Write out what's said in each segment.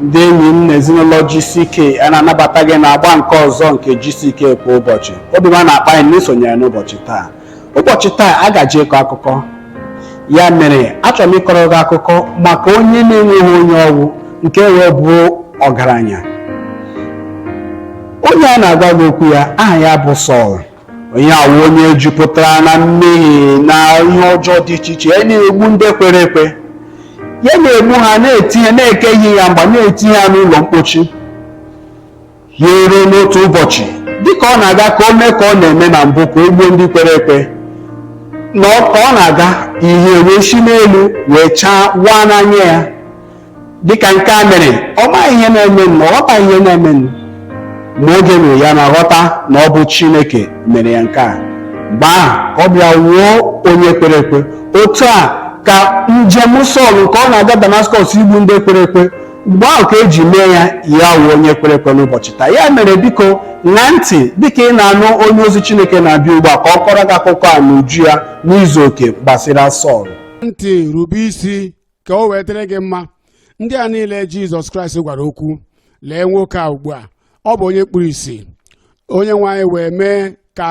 ndị enyi m na ezinụlọ GCK a na-anabata gị na agba nke ọzọ nke GCK kwa ụbọchị obi ọma na-akpa anyị na i sonyere n'ụbọchị taa ụbọchị taa a gaje ịkọ akụkọ ya mere achọrọ m ịkọrọ gị akụkọ maka onye na-enweghị onye ọ wụ nke wee bụ ọgaranya onye a na-agwa gị okwu ya aha ya bụ Sọl onye a wụ onye jupụtara na mmehie na ihe ọjọọ dị iche iche ya na-egbu ndị kwere ekwe ya na-egbu ha na-etinye na-ekechi ya mgba na-etinye ha n'ụlọ mkpochi ya eruo n'otu ụbọchị dịka ọ na-aga ka o mee ka ọ na-eme na mbụ ka o gbuo ndị kwere ekwe na ọ- ka ọ na-aga ihe wee si n'elu wee chaa waa n'anya ya dịka nke a mere ọ maghị ihe na-eme na ọ ghọtaghị ihe na-eme nụ. ma oge mere ya na-aghọta na ọ bụ chineke mere ya nke a mgbe ahụ ka ọ bịa wụọ onye kwere ekwe otu a ka njem sọl nke ọ na-aga damaskọs igbu ndị kwere ekwe mgbe ahụ ka eji mee ya ya wụ onye kwere ekwe n'ụbọchị taa ya mere biko ṅaa ntị dịka ị na-anụ onye ozi Chineke na-abịa ugbu a ka ọ kọrọ gị akụkọ a n'uju ya n'izu oke gbasara Sọl ntị rube isi ka o wee dịrị gị mma ndị a niile Jizọs Kraịst gwara okwu lee nwoke a ugbu a ọ bụ onye kpuru isi onye nwe anyị wee mee ka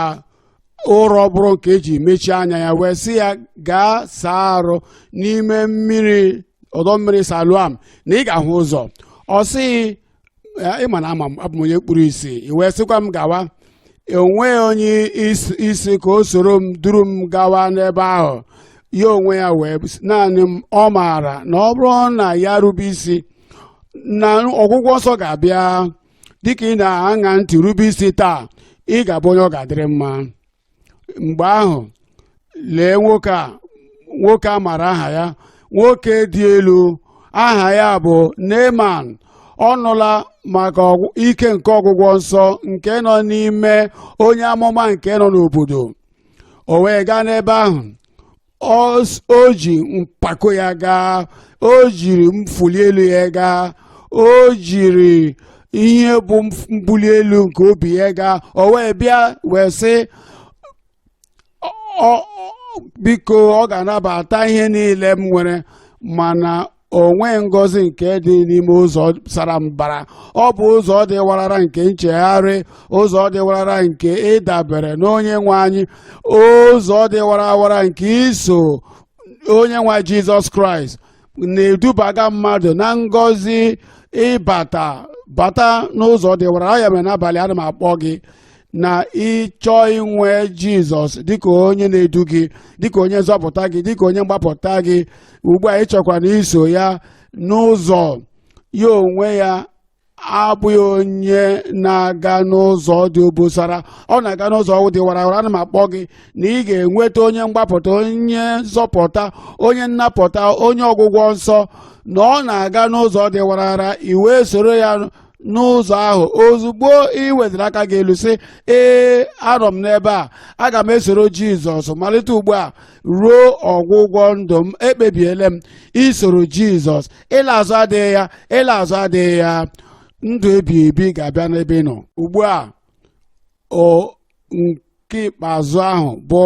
ụrọ bụrụ nke eji mechie anya ya wee sị ya gaa saa arụ n'ime mmiri ọdọ mmiri Siloam na ị ga-ahụ ụzọ ọ sị ị ma na ama m abụ m onye kpuru isi i wee sịkwa m gawa enweghị onye is- ị sị ka o soro m duru m gawa n'ebe ahụ ya onwe ya wee s- naanị na ọ maara na ọ bụrụ na ya rube isi na ọgwụgwọ nsọ ga-abịa dịka ị na-aṅa ntị rube isi taa ị ga-abụ onye ọ ga-adịrị mma mgbe ahụ lee nwoke a nwoke a mara aha ya nwoke dị elu aha ya bụ Neman ọ nụla maka ọgwụ- ike nke ọgwụgwọ nsọ nke nọ n'ime onye amụma nke nọ n'obodo o wee gaa n'ebe ahụ Ọs- o ji mpako ya gaa o jiri mfuli elu ya gaa o jiri ihe bụ mf- mbuli elu nke obi ya gaa o wee bịa wee sị "Ọ- ọ- biko ọ ga-anabata ihe niile m nwere mana o nweghị ngọzi nke dị n'ime ụzọ sara mbara ọ bụ ụzọ dị warara nke nchegharị ụzọ dị warara nke ịdabere n'onye nwe anyị ụzọ dị warawara nke iso onye nwe anyị jizọs kraịst na-edubaga mmadụ na ngọzi ịbata bata n'ụzọ dị warara ya mere n'abalị a ana m akpọ gị na ịchọ inwe jizọs dịka onye na-edu gị dịka onye nzọpụta gị dịka onye mgbapụta gị ugbu a ịchọkwa na iso ya n'ụzọ ya onwe ya abụghị onye na-aga n'ụzọ dị obosara ọ na-aga n'ụzọ dị warawara ana m akpọ gị na ị ga-enweta onye mgbapụta onye nzọpụta onye nnapụta onye ọgwụgwọ nsọ na ọ na-aga n'ụzọ dị warawara i wee soro ya n'ụzọ ahụ ozugbo ị weliri aka gị elu sị ee anọ m n'ebe a aga m esoro jizọs malite ugbu a ruo ọgwụgwọ ndụ m ekpebiele m isoro jizọs ịla azụ adịghị ya ịla azụ adịghị ya ndụ ebighị ebi ga-abịa n'ebe ị nọ ugbu a o nke ikpeazụ ahụ bụ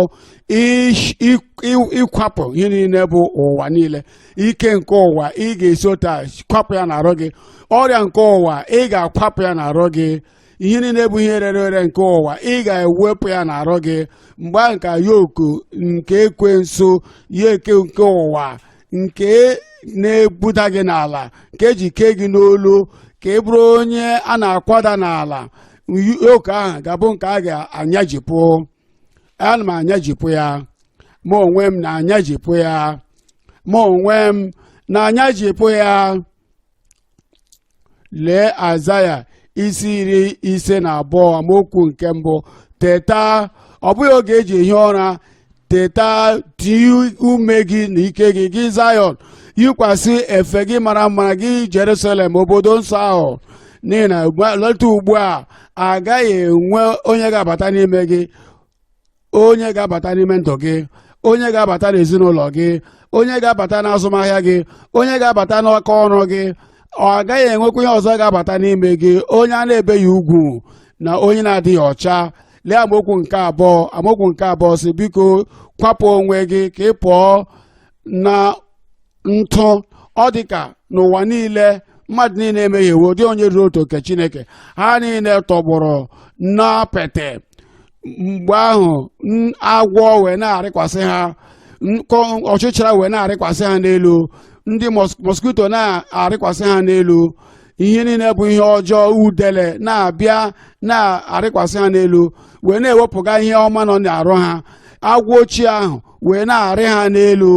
ish- ik- i- ịkwapụ ihe niile bụ ụwa niile ike nke ụwa ị ga-esi otu a kwapụ ya n'arụ gị ọrịa nke ụwa ị ga-akwapụ ya n'arụ gị ihe niile bụ ihe rere ere nke ụwa ị ga-ewepụ ya n'arụ gị mgbe ahụ ka yoku nke ekwensu yoke nke ụwa nke na-ebuda gị n'ala nke eji kee gị n'olu ka ị bụrụ onye a na-akwada n'ala yoku ahụ ga-abụ nke a ga-anyajipụ ana m anyajipụ ya mụ onwe m na-anyajipụ ya mụ onwe m na-anyajipụ ya lee aịzaya isi iri ise na abụọ amaokwu nke mbụ teta ọ bụghị oge eji ehi ụra teta tie ume gị na ike gị gị zayọn yikwasị efe gị mara mma gị jerusalem obodo nsọ ahụ n'ihi na malite ugbu a agaghị enwe onye ga-abata n'ime gị onye ga-abata n'ime ndụ gị onye ga-abata n'ezinụlọ gị onye ga-abata n'azụmahịa gị onye ga-abata n'aka ọrụ gị agaghị enwekwa ihe ọzọ ga-abata n'ime gị onye a na-ebeghị ugwu na onye na-adịghị ọcha lee amaokwu nke abụọ amaokwu nke abụọ sị biko kwapụ onwe gị ka ị pụọ na ntụ ọ dị ka n'ụwa niile mmadụ niile emehiewo ọ dịghị onye ruru otuto nke chineke ha niile tọgbọrọ n'apịtị mgbe ahụ n- agwọ wee na-arịkwasị ha nkọ ọchịcha wee na-arịkwasị ha n'elu ndị mos- mosquito na-arịkwasị ha n'elu ihe niile bụ ihe ọjọọ udele na-abịa na-arịkwasị ha n'elu wee na-ewepụga ihe ọma nọ n'arụ ha agwọ ochie ahụ wee na-arị ha n'elu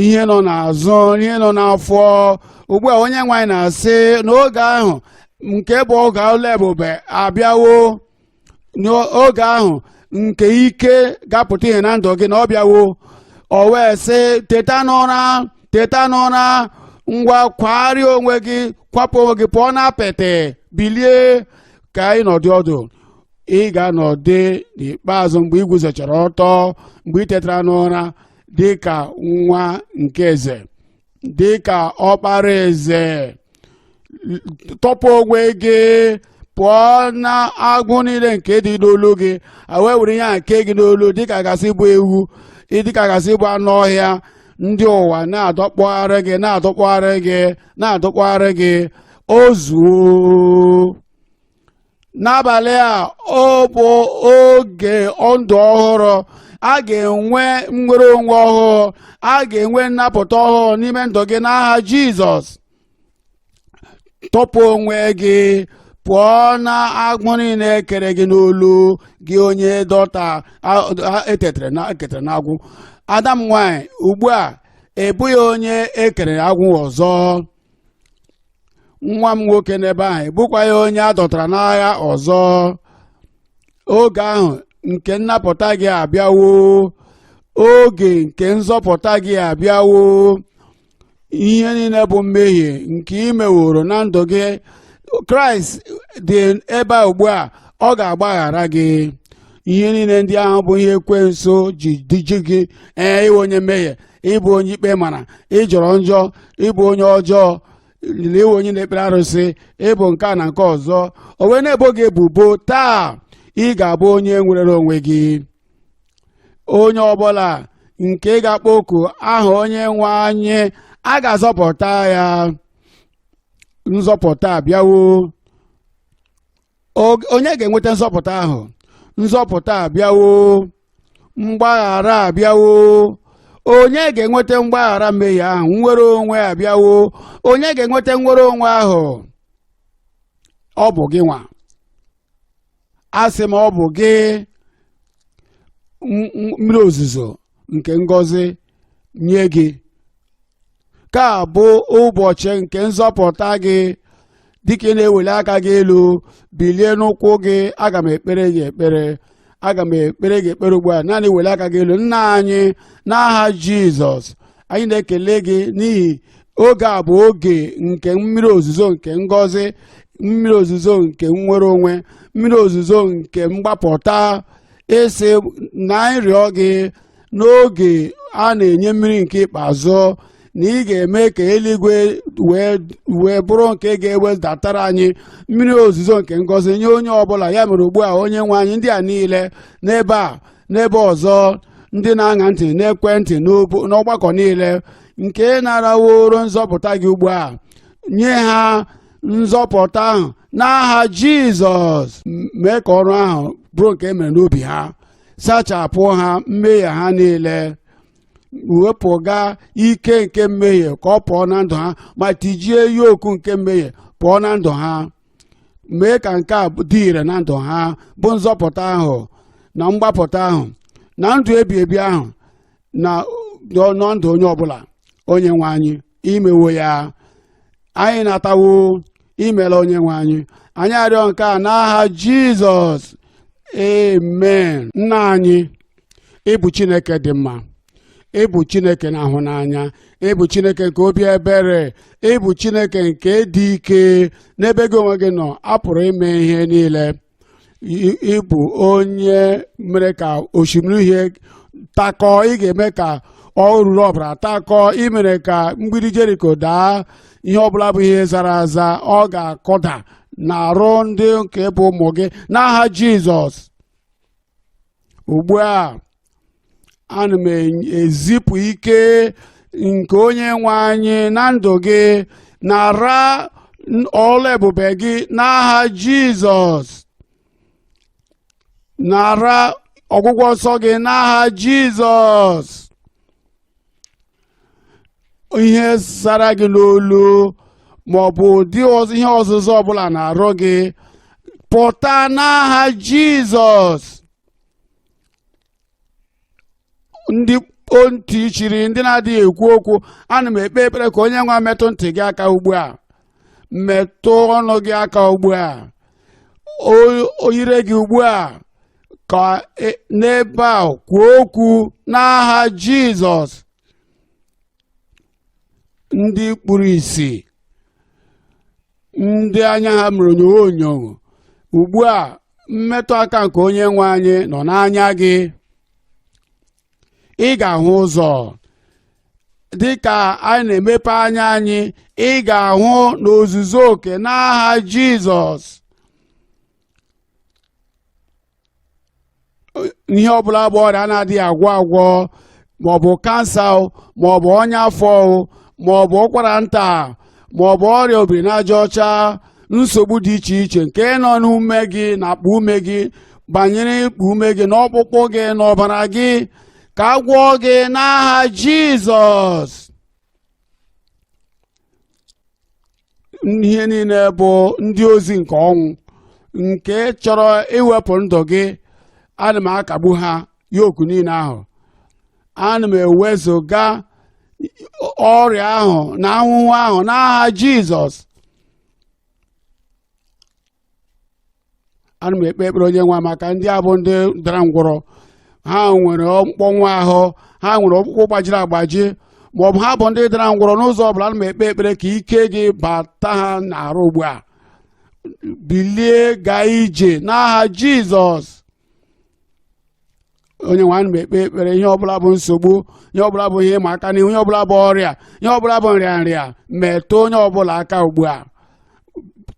ihe nọ n'azụ ihe nọ n'afọ ugbu a onye nwe anyị na-asị n'oge ahụ nke bụ oge ụlọ ebube abịawo n'oge ahụ nke ike ga-apụta ihe na ndụ gị na ọ bịawo o wee sị teta n'ụra teta n'ụra ngwa kwagharịa onwe gị kwapụ onwe gị pụọ n'apịtị bilie ka ị nọdụ ọdụ ị ga-anọdụ n'ikpeazụ mgbe ị guzochara ọtọ mgbe ị tetara n'ụra dị ka nwa nke eze dị ka ọkpara eze tọpụ onwe gị pụọ na agbụ niile nke dị n'olu gị wee were ihe a kee gị n'olu dịka a ga-asị ị bụ ewu dịka a ga-asị ị bụ anụ ọhịa ndị ụwa na-adọkpụgharị gị na-adọkpụgharị gị na-adọkpụgharị gị o zuo n'abalị a ọ bụ oge ndụ ọhụrụ a ga-enwe nnwere onwe ọhụụ a ga-enwe nnapụta ọhụụ n'ime ndụ gị n'aha jizọs tọpụ onwe gị pụọ na agbụ niile e kere gị n'olu gị onye dọta e ketara n'agbụ ada m nwanyị ugbu a ị bụghị onye e kere agbụ ọzọ nwa m nwoke n'ebe ahụ ị bụkwaghị onye a dọtara n'agha ọzọ oge ahụ nke nnapụta gị abịawo oge nke nzọpụta gị abịawo ihe niile bụ mmehie nke ị meworo na ndụ gị kraịst dị ebe a ugbu a ọ ga-agbaghara gị ihe niile ndị ahụ bụ ihe ekwensu ji diji gị ee ị wụ onye mmehie ị bụ onye ikpe mara ị jọrọ njọ ị bụ onye ọjọọ na ị wụ onye na-ekpere arụsị ị bụ nke a na nke ọzọ o wee na-ebo gị ebubo taa ị ga-abụ onye nwerere onwe gị onye ọbụla nke ga-akpọ oku aha onye nwe anyị a ga-azọpụta ya nzọpụta abịawo onye ga-enweta nzọpụta ahụ nzọpụta abịawo mgbaghara abịawo onye ga-enweta mgbaghara mmehie ahụ nnwere onwe abịawo onye ga-enweta nnwere onwe ahụ ọ bụ gị nwa asị m ọ bụ gị mmiri ozuzo nke ngọzi nye gị nke a bụ ụbọchị nke nzọpụta gị dịka ị na-eweli aka gị elu bilie n'ụkwụ gị aga m ekpere gị ekpere aga m ekpere gị ekpere ugbu a naanị welie aka gị elu nna anyị n'aha jizọs anyị na-ekele gị n'ihi oge a bụ oge nke mmiri ozuzo nke ngọzi mmiri ozuzo nke nnwere onwe mmiri ozuzo nke mgbapụta ị sị na anyị rịọ gị n'oge a na-enye mmiri nke ikpeazụ na ị ga-eme ka eluigwe wee wee bụrụ nke ga-ewedatara anyị mmiri ozuzo nke ngọzi nye onye ọbụla ya mere ugbu a onye nwe anyị ndị a niile n'ebe a n'ebe ọzọ ndị na-aṅa ntị n'ekwentị n'obo- n'ọgbakọ niile nke naraworo nzọpụta gị ugbu a nye ha nzọpụta ahụ n'aha jizọs m- mee ka ọrụ ahụ bụrụ nke e mere n'obi ha sachapụ ha mmehie ha niile wepụga ike nke mmehie ka ọ pụọ na ndụ ha ma tijie yoku nke mmehie pụọ na ndụ ha mee ka nke a dị ire na ndụ ha bụ nzọpụta ahụ na mgbapụta ahụ na ndụ ebi ebi ahụ na ndụ onye ọbụla onye nwe anyị i mewo ya anyị natawo imela onye nwe anyị anyị arịọ nke a n'aha jizọs amen nna anyị ị bụ chineke dị mma ị bụ chineke na-ahụ n'anya ị bụ chineke nke obi ebere ị bụ chineke nke dị ike n'ebe gị onwe gị nọ a pụrụ ime ihe niile I- ị bụ onye mere ka osimiri uhie takọọ ị ga-eme ka oruru ọbara takọọ ị mere ka mgbidi jeriko daa ihe ọbụla bụ ihe zara aza ọ ga-akụda n'arụ ndị nke bụ ụmụ gị n'aha jizọs ugbu a ana m ezipụ ike nke onye nwe anyị na ndụ gị nara ọrụ ebube gị n'aha jizọs nara ọgwụgwọ nsọ gị n'aha jizọs ihe zara gị n'olu ma ọ bụ ụdị ọz- ihe ọzịza ọbụla n'arụ gị pụta n'aha jizọs ndị kpo ntị chiri ndị na-adịghị ekwu okwu ana m ekpe ekpere ka onye nwe metụ ntị gị aka ugbu a metụ ọnụ gị aka ugbu a O- o ire gị ugbu a ka e- n'ebe a kwuo okwu n'aha jizọs ndị kpuru isi ndị anya ha mere onyonyo onyonyo ugbu a mmetụ aka nke onye nwe anyị nọ n'anya gị ị ga-ahụ ụzọ dị ka anyị na-emepe anya anyị ị ga-ahụ n'ozuzu oke n'aha jizọs ihe ọbụla bụ ọrịa na-adịghị agwọ agwọ maọbụ kansa o, maọbụ ọnya afọ o, maọbụ ụkwara nta ma ọ bụ ọrịa obiri n'aja ọcha nsogbu dị iche iche nke nọ n'ume gị na akpa ume gị banyere ikpu ume gị n'ọkpụkpụ gị n'ọbara gị ka a gwọọ gị n'aha jizọs ihe niile bụ ndị ozi nke ọnwụ nke chọrọ iwepụ ndụ gị ana m akagbu ha yoku niile ahụ ana m ewezụga ọrịa ahụ na ahụhụ ahụ n'aha jizọs ana m ekpe ekpere onye nwe maka ndị a bụ ndị dara ngwọrọ ha nwere mkpọnwụ ahụ ha nwere ọkpụkpụ gbajiri agbaji ma ọ bụ ha bụ ndị dara ngwọrọ n'ụzọ ọbụla ana m ekpe ekpere ka ike gị bata ha n'arụ ugbu a bilie gaa ije n'aha jizọs onye nwe ana m ekpe ekpere ihe ọbụla bụ nsogbu ihe ọbụla bụ ihe ịma aka n'ihu ihe ọbụla bụ ọrịa ihe ọbụla bụ nrịa nrịa metụ onye ọbụla aka ugbu a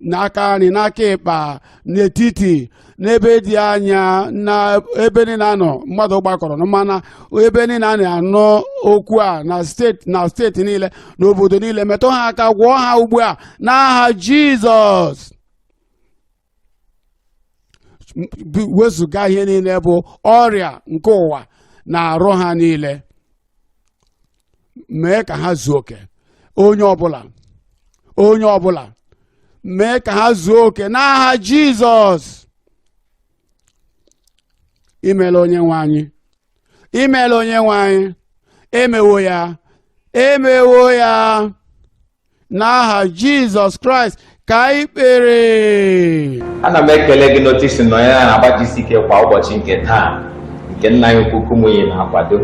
n'aka nri n'aka ịkpa n'etiti n'ebe dị anya na ebe niile anọ mmadụ gbakọrọ na ma na ebe niile a na-anụ okwu a na steeti niile na obodo niile metụ ha aka gwọọ ha ugbu a n'aha jizọs wezụga ihe niile bụ ọrịa nke ụwa n'arụ ha niile mee ka ha zuo oke onye ọbụla onye ọbụla mee ka ha zuo oke n'aha jizọs imeela onye nwe anyị imeela onye nwe anyị emewo ya emewo ya n'aha jizọs kraịst ka anyị kpere ana m ekele gị n'otu i si nọnye n'agba gck kwa ụbọchị nke taa nke nna anyị ukwu kumuyi na-akwado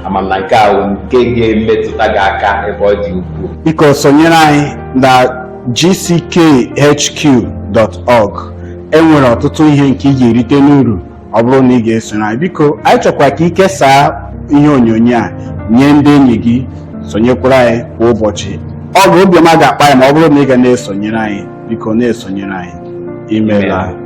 ama m na nke ahụ nke ga-emetụta gị aka ebe ọ dị ukwuu biko sonyere anyị na gckhq.org enwere ọtụtụ ihe nke ị ga-erite n'uru ọ bụrụ na ị ga-esoro anyị biko anyị chọkwa ka ị kesaa ihe onyonyo a nye ndị enyi gị sonyekwara anyị kwa ụbọchị ọ bụ obiọma ga-akpa anyị ma ọ bụrụ na ị ga na-esonyere anyị biko na-esonyere anyị imeela